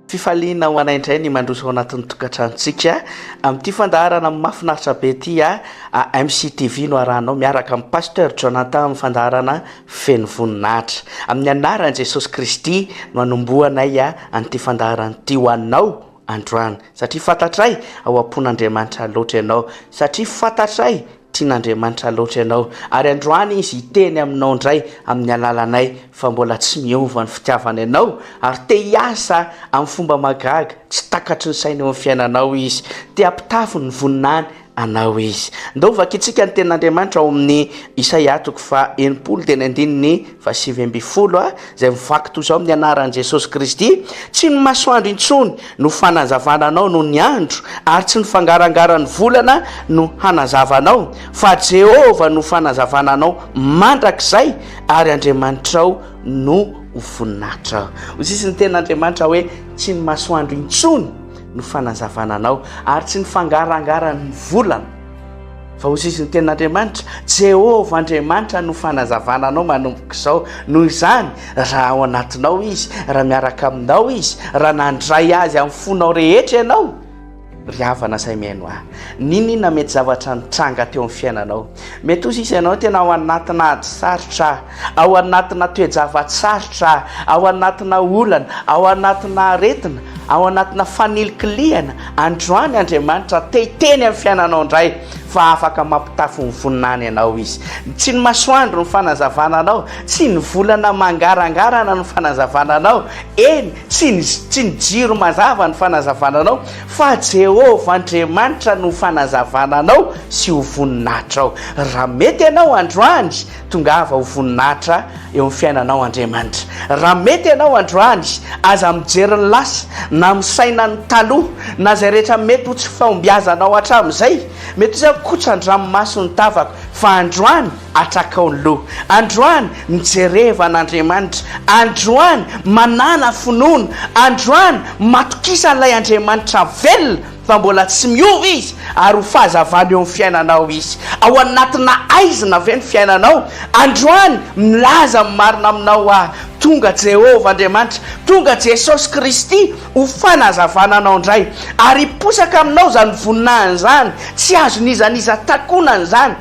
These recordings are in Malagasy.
Fifaliana ho anay indray ny mandroso ao anatin'ny tokantranontsika amin'ity fandaharana mahafinaritra be ity AMC TV no arahanao miaraka amin'ny Pasteur Jonathan amin'ny fandaharana feno voninahitra. Amin'ny anaran'i Jesosy Kristy no anombohanay an'ity fandaharana ity ho anao androany satria fantatray ao am-pon'Andriamanitra loatra ianao satria fantatray Tian'Andriamanitra loatra ianao, ary androany Izy hiteny aminao indray amin'ny alalanay fa mbola tsy miova ny fitiavany anao, ary te hiasa amin'ny fomba mahagaga tsy takatry ny sainy eo amin'ny fiainanao Izy. Te hampitafy ny voninahiny anao Izy. Ndao vakintsika ny Tenin'Andriamanitra ao amin'ny Isaia toko faha enimpolo teny andininy fa sivy ambin'ny folo a izay mivaky toy izao amin'ny anaran'i Jesosy Kristy, tsy ny masoandro intsony no fanazavana anao noho ny andro, ary tsy ny fangarangaran'ny volana no hanazava anao, fa Jehovah no fanazavana anao mandrakizay, ary Andriamanitrao no ho voninahitra. Hoy sisa ny tenin'Andriamanitra hoe, Tsy ny masoandro intsony no fanazavana anao, ary tsy ny fangarangaran'ny volana. Fa ho sisin'ny tenin'Andriamanitra, Jehovah Andriamanitra no fanazavana anao manomboka izao. Noho izany, raha ao anatinao izy, raha miaraka aminao izy, raha nandray azy amin'ny fonao rehetra ianao, ry havana izay mihaino ahy, n'inon'inona mety zavatra nitranga teo amin'ny fiainanao, mety ho sisa ianao tena ao anatinà ady sarotra, Ao anatina toe-java-tsarotra, ao anatina olana, ao anatina aretina, ao anatina fanilikilihana, androany Andriamanitra te hiteny amin'ny fiainanao indray fa afaka mampitafy ny voninahiny ianao Izy. Tsy ny masoandro no fanazavana anao, tsy ny volana mangarangarana no fanazavana anao, eny, tsy ny, tsy ny jiro mazava no fanazavana anao, fa Jehovah Andriamanitra no fanazavana anao sy ho voninahitrao. Raha mety ianao androany, Tongava ho voninahitra eo amin'ny fiainanao Andriamanitra. Raha mety ianao androany, aza mijery ny lasa, na misaina ny taloha, na izay rehetra mety ho tsy fahombiazanao hatramin'izay. Mety izay ho kotsan-dranomaso ny tavako, fa androany atrakao ny loha. Androany mijereva an'Andriamanitra. Androany manàna finoana. Androany matokisa an'ilay Andriamanitra velona. fa mbola tsy miova Izy, ary ho fahazavana eo amin'ny fiainanao Izy. Ao anatina aizina ve ny fiainanao? Androany, milaza ny marina aminao aho, tonga Jehovah Andriamanitra, tonga Jesosy Kristy ho fanazavana anao indray, ary hiposaka aminao izany voninahiny izany, tsy azon'iza n'iza takonana izany.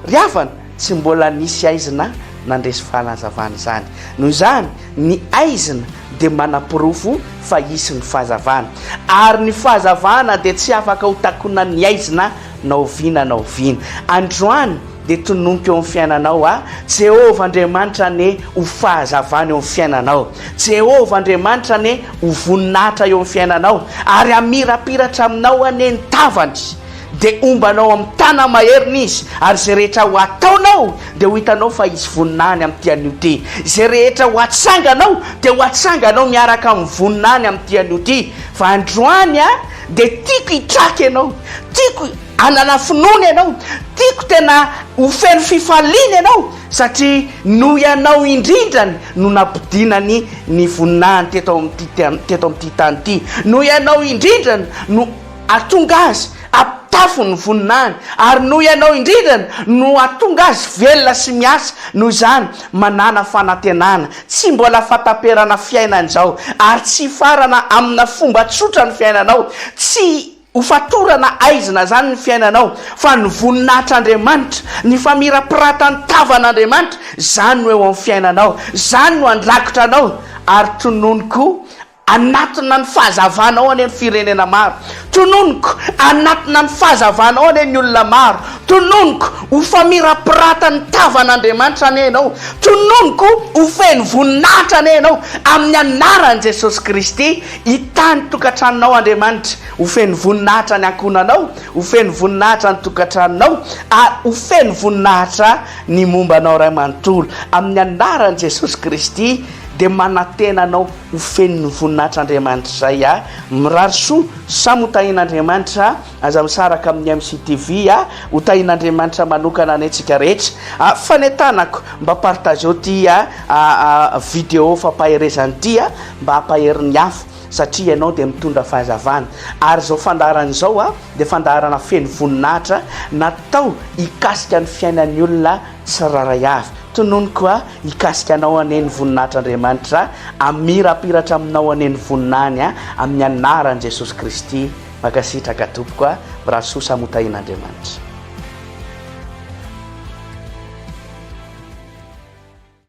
Ry havana, Tsy mbola nisy aizina nandresy fanazavana izany. Noho izany, ny aizina dia manaporofo fa hisy ny fahazavana. Ary ny fahazavana dia tsy afaka ho takonan'ny aizina na oviana na oviana. Androany dia tononiko eo amin'ny fiainanao aho, Jehovah Andriamanitra anie ho fahazavana eo amin'ny fiainanao. Jehovah Andriamanitra anie ho voninahitra eo amin'ny fiainanao, ary hamirapiratra aminao anie ny tavany. Dia hombanao amin'ny tanana maheriny izy, ary izay rehetra ho ataonao dia ho hitanao fa hisy vonona any amin'ity anio ity. Izay rehetra ho atsanganao dia ho atsanganao miaraka amin'ny vonona any amin'ity anio ity. Fa androany aho dia tiako hitraka ianao, tiako hanana finoana ianao, tiako tena ho feno fifaliana ianao, satria noho ianao indrindrany no nampidinany ny voninahiny teto amin'ity, teto amin'ity tany ity. Noho ianao indrindrany no. Ary tonga azy am-pitafiny ny voninahiny, ary noho ianao indrindra no hahatonga azy velona sy miasa, noho izany, manàna fanantenana, tsy mbola fahataperana fiainana izao, ary tsy hifarana amina fomba tsotra ny fiainanao, tsy ho fatorana aizina izany ny fiainanao, fa ny voninahitr'Andriamanitra, ny famirapiratan'ny tavan'Andriamanitra, izany no eo amin'ny fiainanao, izany no handrakotra anao, ary tononiko Anatina ny fahazavana ao anie ny firenena maro. Tononiko, anatina ny fahazavana ao anie ny olona maro. Tononiko, ho famirapirata ny tavan' Andriamanitra anie ianao. Tononiko, ho feno voninahitra anie ianao, amin'ny anaran'i Jesosy Kristy. Hitahy ny tokantranonao Andriamanitra. Ho feno voninahitra ny ankohonanao, ho feno voninahitra ny tokantranonao, ary ho feno voninahitra ny momba anao iray manontolo. Amin'ny anaran'i Jesosy Kristy dia manantena anao. ho feno ny voninahitr' Andriamanitra zay a! Mirary soa, samy ho tahin' Andriamanitra, aza misaraka amin' ny MCTV a! Ho tahin' Andriamanitra manokana anie tsika rehetra a! Fanetanako, mba partageo ty a video fampaherezana ty a! Mba hampahery ny hafa satria ianao dia mitondra fahazavana ary zao fandaharana izao a dia fandaharana feno voninahitra natao hikasika ny fiainan' ny olona Tsirairay avy. Tononiko a, hikasika anao anie ny voninahitr'Andriamanitra, hamirapiratra aminao anie ny voninahiny a, amin'ny anaran'i Jesosy Kristy. Mankasitraka tompoko a, Brasoa samy ho tahian'Andriamanitra.